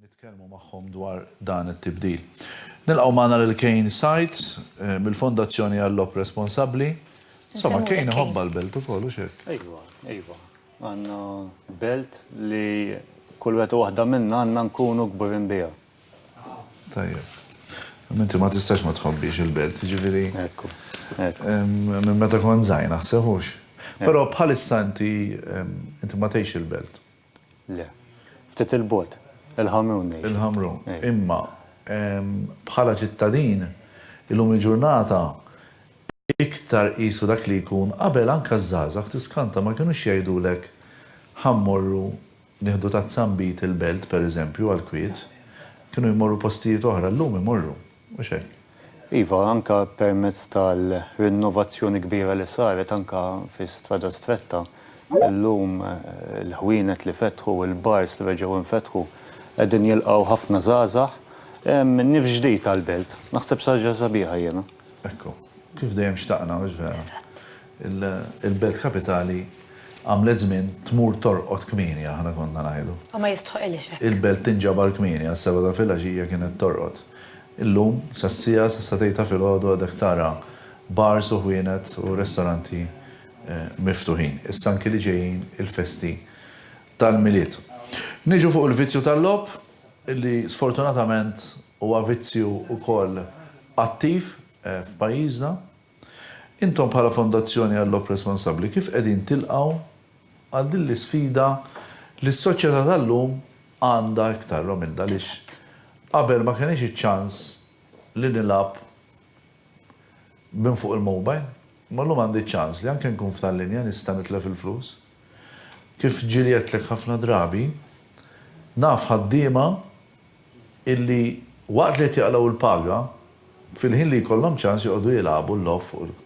Nitkellmu magħhom dwar dan it-tibdil. Nilqgħu magħna lil Kane Said mill-Fondazzjoni Għal-Logħob Responsabbli. Insomma, Kane iħobbha l-belt ukoll, hux hekk? Ejwa, ejwa. Għandna belt li kull wieħed u waħda minna għandna nkunu kburin biha. Tajjeb. Minti ma tistax ma tħobbix il-belt, ġifiri. Ekku. Minn meta kon zajna, seħux. Pero bħalissa inti inti ma tgħix il-belt. Le. Ftit il-bot, il-ħamrun. Il-ħamrun. Imma bħala ċittadin, illum il-ġurnata iktar qisu dak li jkun qabel anka żgħażagħ tiskanta ma kienux jgħidulek ħammorru Nieħdu ta' Zambit il-Belt, per eżempju, għall-kwiet. Kienu jmorru postijiet oħra, llum imorru, mhux hekk? Iva, anke permezz tal-rinnovazzjoni kbira li saret anke fi Strada Stretta, illum il-ħwienet li fetħu, il-bars li reġgħu nfetħu, qegħdin jilqgħu ħafna żgħażagħ. Hemm nifs ġdid għall-Belt. Naħseb xi ħaġa sabiħa jiena. Ekku. Kif dejjem xtaqna, mhux vera? Eżatt. Il-belt kapitali għamlet żmien tmur torqod kmieni, aħna konna ngħidu. U ma jistħoqilhiex hekk. Il-belt tinġabar kmieni, għas-sebgħa ta' filgħaxija kienet torqod. Illum, sas-siegħa, sas-satejn ta' filgħodu għadek tara bars u ħwienet u restoranti miftuħin. Issa anki li ġejjin il-festi tal-Milied. Niġu fuq il-vizzju tal-logħob, li sfortunatament huwa vizzju wkoll attiv f'pajjiżna. Intom bħala Fondazzjoni Għall-Logħob Responsabbli kif qegħdin tilqgħu għal din l-isfida li s-soċjetà tal-lum għandha iktar, Romilda, għaliex qabel ma kellix iċ-ċans li nilgħab minn fuq il-mobile, imma llum għandi ċ-ċans li anke nkun f'tal-linja nista' nitlef il-flus. Kif ġieli għedtlek ħafna drabi, naf ħaddiema illi waqt li qed jaqlgħu l-paga, fil-ħin li jkollhom ċans joqogħdu jilagħbu l-logħob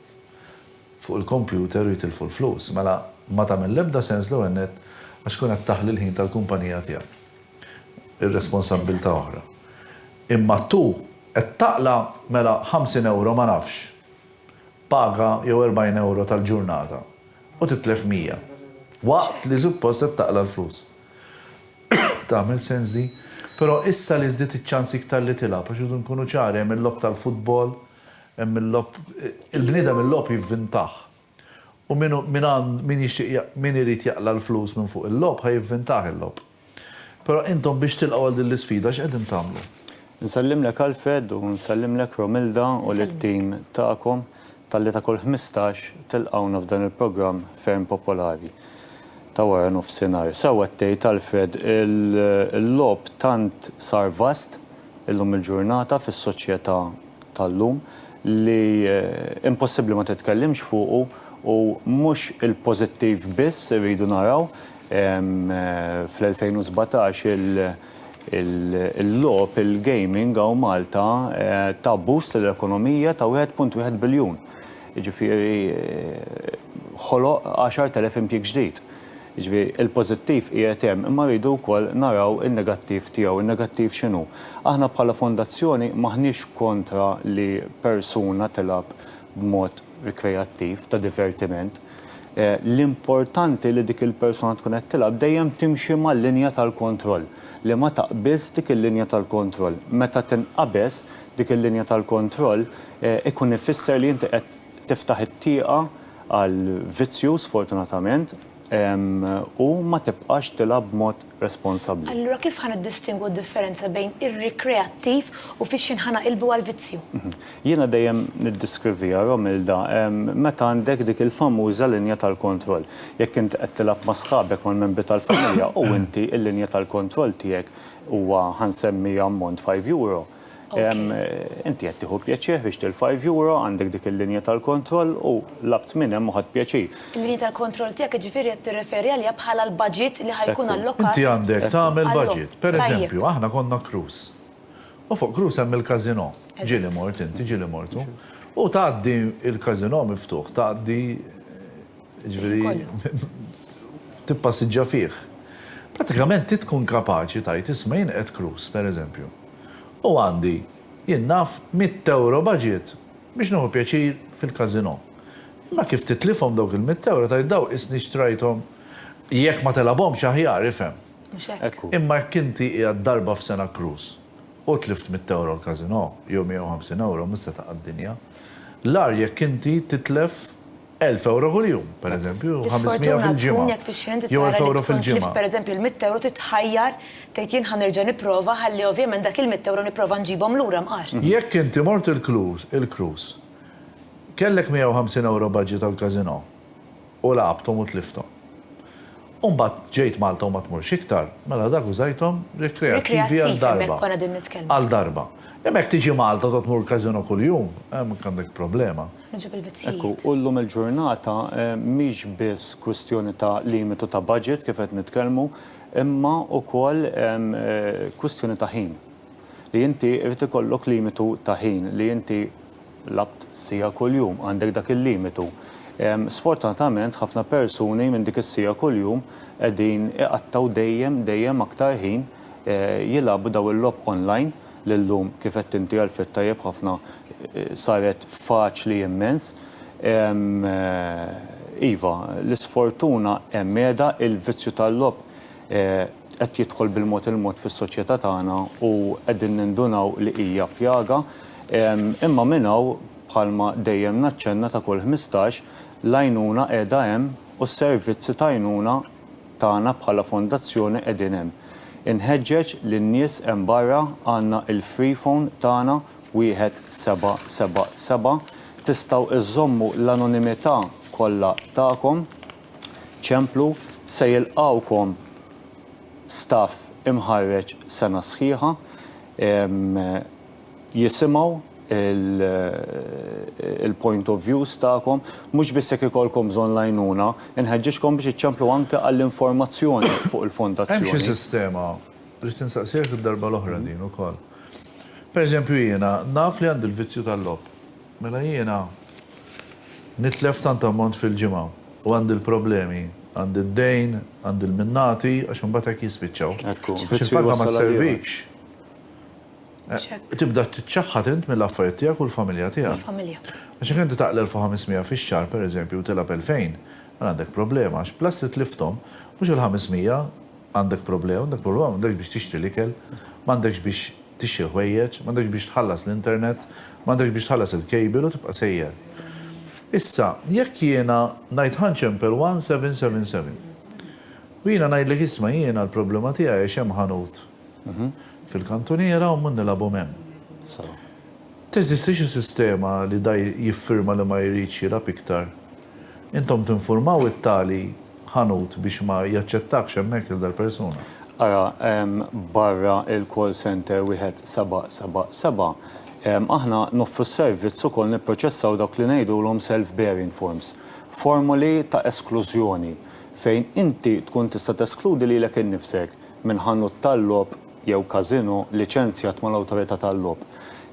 fuq il-kompjuter u jitilfu l-flus. Mela, ma tagħmel l-ebda sens l-ewwel nett għax tkun qed taħli l-ħin tal-kumpanija tiegħek. Ir-responsabbiltà oħra. Imma tu qed taqla' mela 50 ewro ma nafx, paga jew 40 ewro tal-ġurnata u titlef 100. Waqt li suppost qed taqla' l-flus. Tagħmel sens din. Però issa li żdied iċ-ċans iktar li tilgħab, għax irridu nkunu ċari, hemm il-logħob tal-futbol, hemm il-logħob, il-bniedem il-logħob jivvintah. U min hu, min għand, min jixtieq ja, min irid jaqla' l-flus minn fuq il-logħob ħa jivvintah il-logħob. Però intom biex tilqgħu għal din l-isfida x'qegħdin tagħmlu? Nsellimlek Alfred u nsellimlek Romilda u lit-tim tagħkom. Talli ta' kull ħmistax tilqgħuna f'dan il-programm ferm popolari ta' wara nofsinhar. Sewwa tgħid Alfred, il-logħob tant sar vast illum il-ġurnata fis-soċjetà tal-lum li impossibbli ma titkellimx fuqu u mhux il-pożittiv biss irridu naraw fl-2017 il Il-logħob, il-gaming hawn Malta ta boost lill-ekonomija ta' wieħed punt wieħed biljun. Jiġifieri ħoloq għaxart elef impjieg ġdid. Jiġifieri il-pożittiv qiegħed hemm imma rridu wkoll naraw in-negattiv tiegħu. In-negattiv x'inhu? Aħna bħala fondazzjoni m'aħniex kontra li persuna tilgħab b'mod rikreattiv, ta' divertiment. l-importanti li dik il-persuna tkun qed tilgħab dejjem timxi mal-linja tal-kontroll, li ma taqbiżx dik il-linja tal-kontroll. Meta tinqabeż dik il-linja tal-kontroll ikun ifisser li inti qed tiftaħ it-tieqa għal vizzju sfortunatament u ma tibqax tilgħab b'mod responsabbli. Allura kif ħa niddistingwu d-differenza bejn ir-rikreattiv u fix-xejn ħa naqilbu għal vizzju? Jiena dejjem niddiskrivija, Romilda, meta għandek dik il-famuża linja tal-kontroll. Jekk int qed tilgħab ma' sħabek, mal-membri tal-familja, u inti l-linja tal-kontroll tiegħek huwa, ħa nsemmi ammont, five euro, Inti qed tieħu pjaċir ħriġt il-five euro, għandek dik il-linja tal-kontroll u labt minn hemm u ħadt pjaċir. Il-linja tal-kontroll tiegħek jiġifieri qed tirreferi għaliha bħala l-baġit li ħa jkun allokat. Inti għandek tagħmel baġit. Per eżempju, aħna konna Cruis. U fuq Cruis hemm il-casino. Ġieli mort inti, ġieli mortu. U tgħaddi l-casino miftuħ, tgħaddi jiġifieri tippassiġġa fih, prattikament trid tkun kapaċi tgħid isma' jien qed Cruise, pereżempju, u għandi, jien naf, mitt ewro baġit biex nieħu pjaċir fil-każinò. Imma kif titlifhom dawk il-mitt ewro tgħid daw qisni xtrajthom, jekk ma tilgħabhomx aħjar, ifhem. Mhux hekk. Imma jekk inti qiegħed darba f'sena Cruise u tlift mitt ewro l-każinò, jew 150 ewro, mhux se taqa' d-dinja. L-agħar jekk inti titlef Elf ewro kuljum, per eżempju, jew 500 fil-ġimgħa. Jekk fi xhur inti tara li tkun tlift per eżempju l-mitt ewro trid tħajjar tgħid jien ħa nerġa' nipprova ħalli ovvjament dak il-mitt ewro nipprova nġibhom lura mqar. Jekk inti mort il-cruise, kellek 150 ewro budget għall-casino u lagħabthom u tlifthom. U mbagħad ġejt Malta u ma tmurx iktar, mela dak użajthom rikreattivi għal darba. Għal darba. Imma jekk tiġi Malta u tgħod tmur każino kuljum, hemmhekk għandek problema. Hekk hu, u llum il-ġurnata mhix biss kwistjoni ta' limitu ta' budget kif qed nitkellmu, imma wkoll kwistjoni ta' ħin. Li inti jrid ikollok limitu ta' ħin li inti Labt siegħa kuljum, għandek dak il-limitu. Sfortunatament ħafna persuni minn dik is-siegħa kuljum qegħdin iqattgħu dejjem, dejjem aktar ħin jilagħbu dawn il-logħob online li llum, kif għedt inti Alfred tajjeb ħafna, saret faċli immens. Iva, l-isfortuna hemm qiegħda, il-vizzju tal-logħob, qed jidħol bil-mod il-mod fis-soċjetà tagħna u qegħdin nindunaw li hija pjaga. Imma minn hawn, bħalma dejjem naċċenna ta' kull ħmistax, l-għajnuna qiegħda hemm u s-servizzi ta' għajnuna tagħna bħala fondazzjoni qegħdin hemm. Inħeġġeġ lin-nies hemm barra għandna il-free phone tagħna 1777 tistgħu żżommu l-anonimità kollha tagħkom. ċemplu se jilqgħukom staff imħarreġ sena sħiħa jisimgħu l-point of views tagħkom. Mhux biss jekk ikollkom bżonn l-għajnuna, inħeġġiġkom biex iċċemplu anke għall-informazzjoni fuq il-fondazzjoni. Hemm xi sistema, ridt insaqsieha d-darba l-oħra din ukoll. Pereżempju jiena naf li għandi l-vizzju tal-logħob. Mela jiena nitlef tant ammont fil-ġimgħa u għandi l-problemi, għandi d-dejn, għandi l-minnati, għax imbagħad hekk jispiċċaw. Għax il-paga ma sservikx. Tibda tiċċaħħad int mill-affarijiet tiegħek u l-familja tiegħek. Għax jekk inti taqla' 1,500 fix-xahar, pereżempju, u tilgħab 2,000, mela għandek problema, għax plus li tlifthom, mhux il-500, M'għandek problema, m'għandek problema, m'għandekx biex tixtri l-ikel, m'għandekx biex tixtri l-ħwejjeġ, m'għandekx biex tħallas l-internet, m'għandekx biex tħallas il-cable u tibqa' sejjer. Issa, jekk jiena ngħid ħa nċempel 1777 u jiena ngħidlek isma' jiena l-problema tiegħi għax hemm ħanut fil-kantuniera u mmur nilagħbhom hemm. Teżisti xi sistema li da jiffirma li ma jridx jilgħab iktar? Intom tinfurmaw it-tali ħanut biex ma jaċċettakx hemmhekk lil dal-persuna. Ara barra il-call centre wieħed seba' seba' seba'. Aħna noffru s-servizz ukoll nipproċessaw dawk li ngħidulhom self-bearing forms, formoli ta' esklużjoni, fejn inti tkun tista' teskludi lilek innifsek minn ħanut tal-logħob jew casino liċenzjat mal-awtorità tal-logħob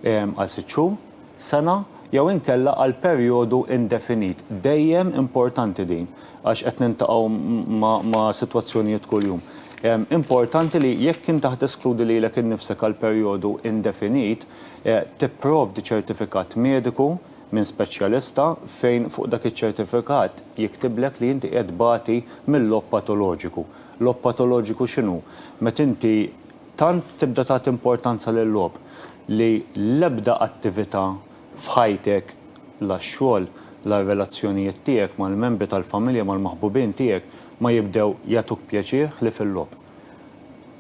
għal sitt xhur, sena jew inkella għal perjodu indefinit. Dejjem importanti din għax qed niltaqgħu ma' sitwazzjonijiet kuljum. Importanti li jekk inti ħa teskludi lilek innifsek għal perjodu indefinit, tipprovdi ċertifikat mediku minn speċjalista fejn fuq dak iċ-ċertifikat jiktiblek li inti qiegħed tbati mil-logħob patoloġiku. Logħob patoloġiku x'inhu? Meta inti Tant tibda tagħti importanza lil-logħob li l-ebda attività f'ħajtek, la x-xogħol, la r-relazzjonijiet tiegħek mal-membri tal-familja, mal-maħbubin tiegħek, ma jibdew jagħtuk pjaċir ħlief il-logħob.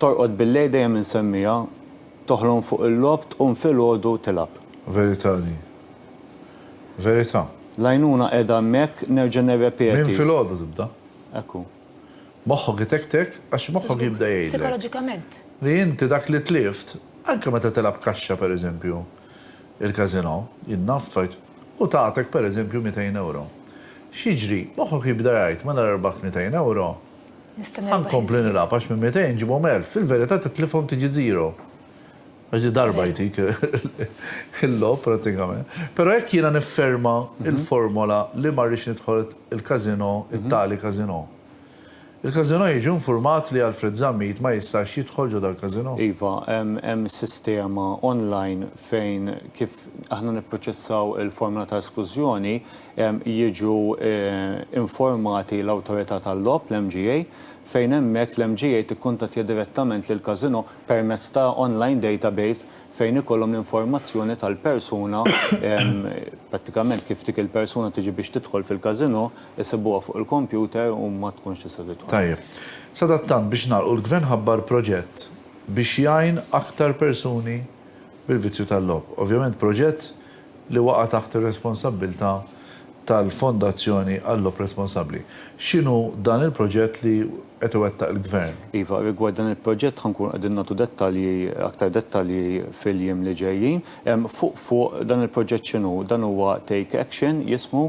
Torqod bil-lejl dejjem insemmija, toħlom fuq il-logħob, tqum filgħodu tilgħab. Verità din. Verità. L-għajnuna qiegħda hemmhekk, nerġa' nirrepeti. Minn filgħodu tibda. Hekk hu. Moħħok itektek għax moħħok jibda jgħidlek. Sikoloġikament. Li inti dak li tlift, anke meta tilgħab kaxxa per eżempju, il-casino, jien naf fajt, u tagħtek per eżempju 200 ewro. X'jiġri? Moħħok jibda jgħid mela rbaħt 200 ewro, ħa nkompli nilgħab għax minn 200 nġibhom 1000, fil-verità titlifhom tiġi zero. Ġi darba jtik il-logħob prattikament. Però jekk jiena nifferma l-formola li ma rridx nidħol il-casino, it-tali casino, il-casino jiġi infurmat li Alfred Zammit ma jistax jidħol ġo dal-casino? Iva, hemm sistema online fejn kif aħna nipproċessaw il-formola ta' esklużjoni jiġu informati l-Awtorità tal-Logħob, l-MGA, fejn hemmhekk l-MGA tikkuntattja direttament lill-casino permezz ta' online database fejn ikollhom l-informazzjoni tal-persuna, prattikament kif dik il-persuna tiġi biex tidħol fil-casino, isibuha fuq il-kompjuter u ma tkunx tista' tidħol. Tajjeb. Sadattant biex nagħlqu l-Gvern ħabbar proġett biex jgħin aktar persuni bil-vizzju tal-logħob. Ovvjament proġett li waqa' taħt ir-responsabbiltà tal-Fondazzjoni Għall-Logħob Responsabbli. X'inhu dan il-proġett li qed iwettaq il-Gvern? Iva, rigward dan il-proġett ħa nkunu qegħdin nagħtu dettalji, aktar dettalji fil-jiem li ġejjin. Fuq fuq, dan il-proġett x'inhu? Dan huwa Take Action jismu,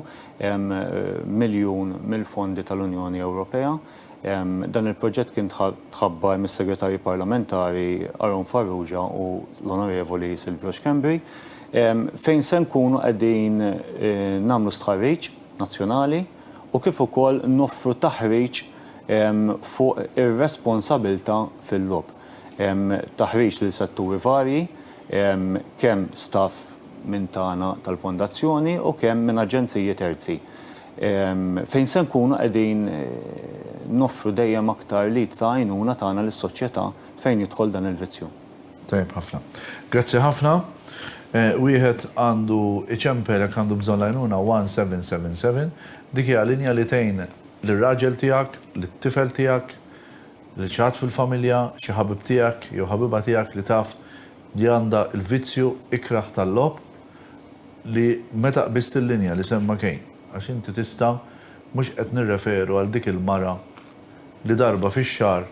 miljun mill-fondi tal-Unjoni Ewropea. Dan il-proġett kien tħabbar mis-Segretarji Parlamentari Aaron Farrugia u l-Onorevoli Silvio Schembri, fejn se nkunu qegħdin nagħmlu stħarriġ nazzjonali u kif ukoll noffru taħriġ fuq ir-responsabilità fil-logħob. Taħriġ lil setturi varji, kemm staff minn tagħna tal-Fondazzjoni u kemm minn aġenziji terzi. fejn se nkunu qegħdin noffru dejjem aktar l-id ta' għajnuna tagħna lis-soċjetà fejn jidħol dan il-vizzju. Tajjeb ħafna. Grazzi ħafna. Wieħed għandu iċempel jekk għandu bżonn l-għajnuna 1777. Dik hija linja li tgħin lir-raġel tiegħek, lit-tifel tiegħek, lil xi ħadd fil-familja, xi ħabib tiegħek jew ħabiba tiegħek li taf li għandha l-vizzju ikrah tal-logħob. li meta qbist il-linja li semma Kane, għax inti tista' mhux qed nirreferu għal dik il-mara li darba fix-xahar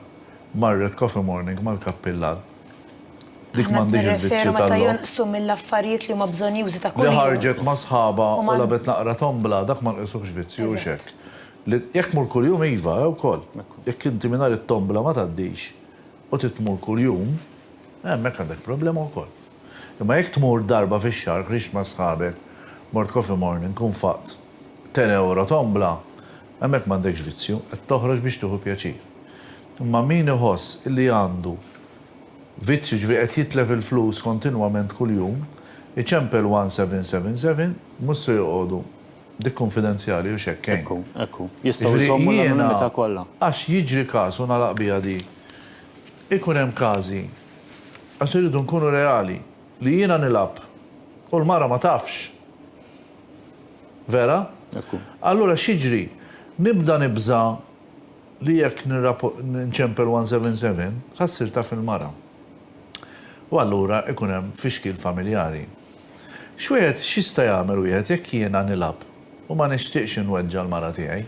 marret Coffee Morning mal-Kappillan. Dik m'għandhiex il-vizzju tal-logħob. Aħna qed nirreferu meta jonqsu mill-affarijiet li huma bżonjużi ta' kuljum. Li ħarġet ma' sħabha u lagħbet naqra tombla, dak ma nqisuhx vizzju, hux hekk? Li jekk tmur kuljum, iva, wkoll. Jekk inti mingħajr it-tombla ma tgħaddix u trid tmur kuljum, hemmhekk għandek problema wkoll. Imma jekk tmur darba fix-xahar qriext ma' sħabek, mort coffee morning, u nfaqt ten ewro tombla, hemmhekk m'għandekx vizzju, qed toħroġ biex tieħu pjaċir. Imma min iħoss li għandu vizzju, jiġifieri qed jitlef il-flus kontinwament kuljum, iċempel 1777, mhux se joqogħdu, dik kunfidenzjali hux hekk hein. Ekku, ekku. Jistgħu jżommu l-anonimità kollha. Jiġifieri jiena, għax jiġri każ u nagħlaq biha din, ikun hemm każi, Għax irridu nkunu reali, li jiena nilgħab u l-mara ma tafx. Vera? Hekk hu. Allura x'jiġri? Nibda nibża' li jekk nċempel 177, ħa ssir taf il-mara. U allura ikun hemm fixkil familjari. X'wieħed, x'jista' jagħmel wieħed jekk jiena nilgħab u ma nixtieqx inweġġa' l-mara tiegħi?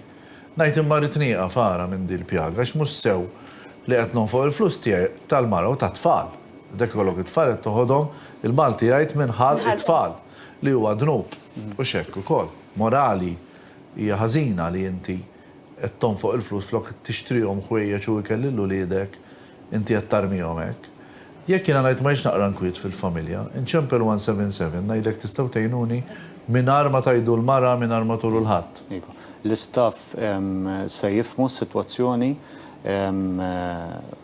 Ngħid imma rrid nieqaf ara minn din il-pjaga għax mhux sew li qed nonfoq il-flus tiegħi tal-mara u tat-tfal. Dak ikollok it-tfal qed toħodhom, il-Malti jgħid minn ħa t-tfal, li huwa dnub. Hux hekk ukoll. Morali hija ħażina li inti qed tonfoq il-flus flok tixtrihom ħwejjeġ u ikel lil uliedek. Inti qed tarmihom hekk. Jekk jiena ngħid ma jiġx naqra nkwiet fil-familja, inċempel 177 ngħidlek tistgħu tgħinuni mingħajr ma tgħidu l-mara, mingħajr ma turu 'l ħadd. Iva. L-istaff se jifhmu s-sitwazzjoni,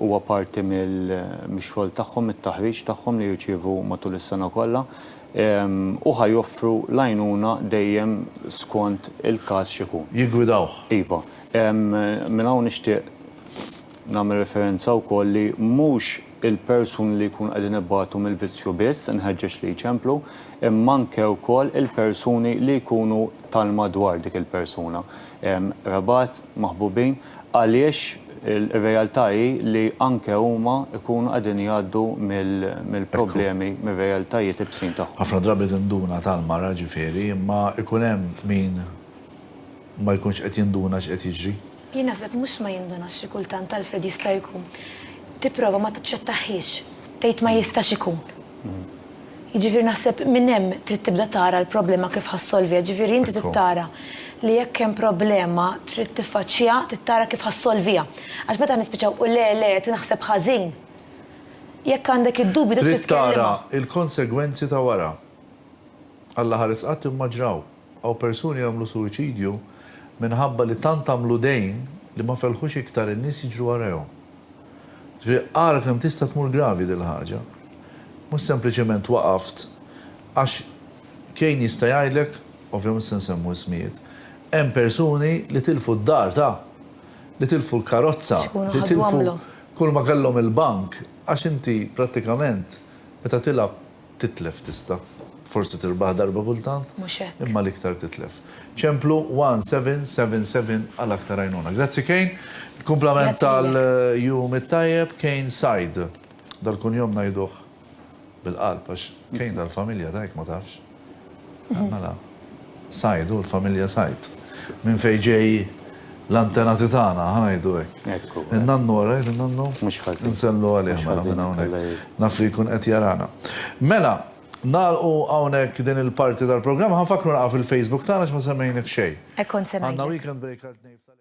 huwa parti mix-xogħol tagħhom, mit-taħriġ tagħhom li jirċievu matul is-sena kollha, u ħa joffru l-għajnuna dejjem skont il-każ x'ikun. Jiggwidawh. Iva. Minn hawn nixtieq Nagħmel referenza wkoll li mhux il-persuni li jkunu qegħdin ibatu mill-vizzju biss inħeġġeġ li jċemplu, imma anke wkoll il-persuni li jkunu tal-madwar dik il-persuna. Qrabat, maħbubin, għaliex ir-realtà hi li anke huma jkunu qegħdin jgħaddu mill-problemi, mir-realtajiet ibsin tagħhom. Ħafna drabi tinduna tal-mara, ġifieri, imma jkun hemm min. ma jkunx qed jinduna x'qed jiġri. Jien naħseb mhux ma jindunax xi kultant Alfred jista' jkun tipprova ma taċċettahhiex, tgħid ma jistax ikun. Jiġifieri naħseb minn hemm trid tibda tara l-problema kif ħa ssolviha, jiġifieri inti trid tara li jekk hemm problema trid tiffaċċiha, trid tara kif ħa ssolviha. Għax meta nispiċċaw u le le qed naħseb ħażin, jekk għandek id-dubju trid titkellimha. Trid tara l-konsegwenzi ta' wara. Alla ħares qatt imma ġraw. Hawn persuni jagħmlu suwiċidju minħabba li tant għamlu dejn li ma felħux iktar in-nies jiġru warajhom. Ġifieri ara kemm tista' tmur gravi dil-ħaġa. Mhux sempliċement waqaft għax Kane jista' jgħidlek, ovvja mhux se nsemmu ismijiet, hemm persuni li tilfu d-dar ta', li tilfu l-karozza, li tilfu kulma kellhom il-bank għax inti prattikament meta tilgħab Titlef tista'. Forsi tirbaħ darba kultant. Mhux hekk. Imma l-iktar titlef. Ċemplu 1777 għal aktar għajnuna. Grazzi Kejn. Kumplament tal-jum it-tajjeb, Kejn Said. Dal-kunjom ngħiduh bil-qalb għax Kejn tal-familja ta' hekk ma tafx. Mela, Said hu l-familja Said. Minn fejn ġej l-antenati tagħna, ħa ngħidu hekk. Ekku. In-nannu ara jgħid in-nannu? Mhux ħażin. Insellu għalih Mhux mela ħażin, minn Alla hawnhekk. jgħin. Naf li jkun qed jarana. Mela, nagħlqu hawnhekk din il-parti tal-programm. Ħa nfakkru naqgħu fil-Facebook tagħna għax ma semmejnek xejn. Hekk kont se Għandna ngħidlek. weekend break għal tnejn f'Tal-Express.